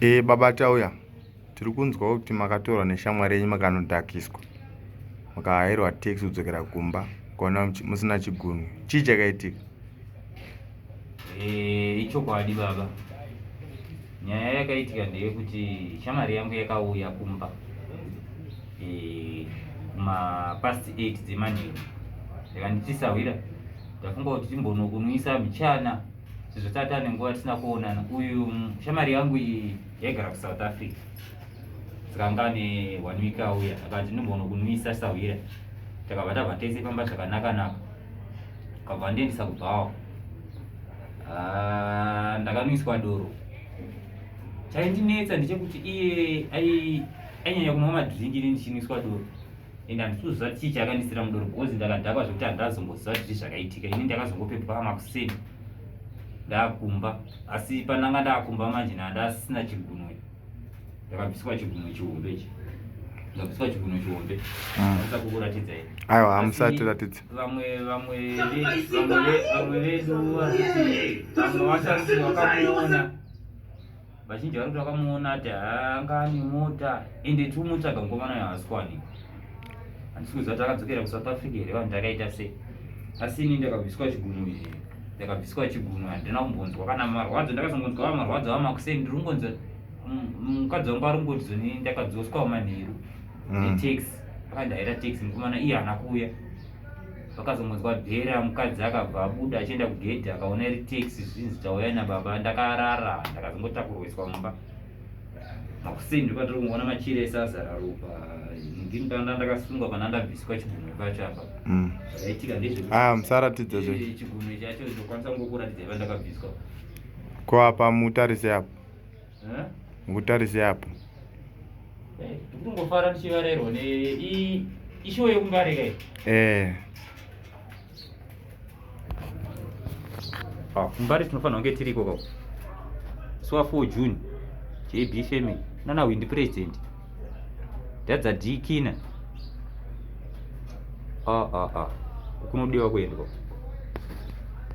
E, baba Tauya, tiri kunzwa kuti makatorwa neshamwari yenyu makanodhakiswa. Makahairwa tax kudzokera kumba, ukaona musina chigunwe. Chii chakaitika? E, ichokwadi baba. Nyaya yakaitika ndeyekuti shamwari yangu yakauya kumba e, ma past 8 dzemanheru. Yakanditi sahwira, ndafunga kuti timbonokunwisa mchana. sezvo tata ane nguva tisina kuonana uyu shamari yangu iyi yaigara kusouth africa dzikanga ane one week auya akati ndimbono kunwisa sahwira takabva tabva tese famba zvakanaka naka kabva ndiendisa kubhawa ah, ndakanwiswa doro chaindinetsa ndechekuti iye ainyanya kunwa madringi ini ndichinwiswa doro and handikuziva chii chakandisira mudoro because ndakadhakwa zvekuti handazomboziva kuti zvii zvakaitika ini ndakazongopepwa makuseni ndakumba asi pandanga ndakumba manje ndandasina chigunwe ndakabviswa chigunwe chihombe chi ndakabviswa chigunwe chihombe aisa ah. kukuratidza i aiwa hamusati ratidza vamwe vamwe vamwe vedu vamwe vasasi vakamuona vazhinji vari kuti vakamuona ati anga ane mota ende tiumutsvaga mukomana uyo haasi kuwanikwa handisi kuziva kuti akadzokera kusouth africa here vanhu takaita sei asi ini ndakabviswa chigunu izvi ndakabviswa chigunu handina kumbonzwa kana marwadzo ndakazongonzwa va marwadzo vamakuseni ndiri kungonzwa mm, mukadzi wangu ari kungoti zoni ndakadzoswa manheru mm. netaxi akandaira taxi mukomana iye haana kuuya vakazongonzwa bhera mukadzi akabva abuda achienda kugedhi akaona iri tax zvinzi tauya nababa ndakarara ndakazongotakurwiswa mumba makuseni ndipatiri kungoona machire ese azara ropa ndindaa ndakasungwa pana ndabviswa chigunwe pacho apa mm. zvaitika ndezvemusaratidza ah, zve chigunwe chacho ndokwanisa kungokuratidza iva ndakabviswa ko apa mutarise apo ngutarise apo eh, tikungofara tichivarairwa neishowo yekungarika iyi eh. ah, mbari tinofanira kunge tiriko kako suwa 4 june jb family nana windi president dadza dikina ah, ah, ah. kunodiwa kuendwa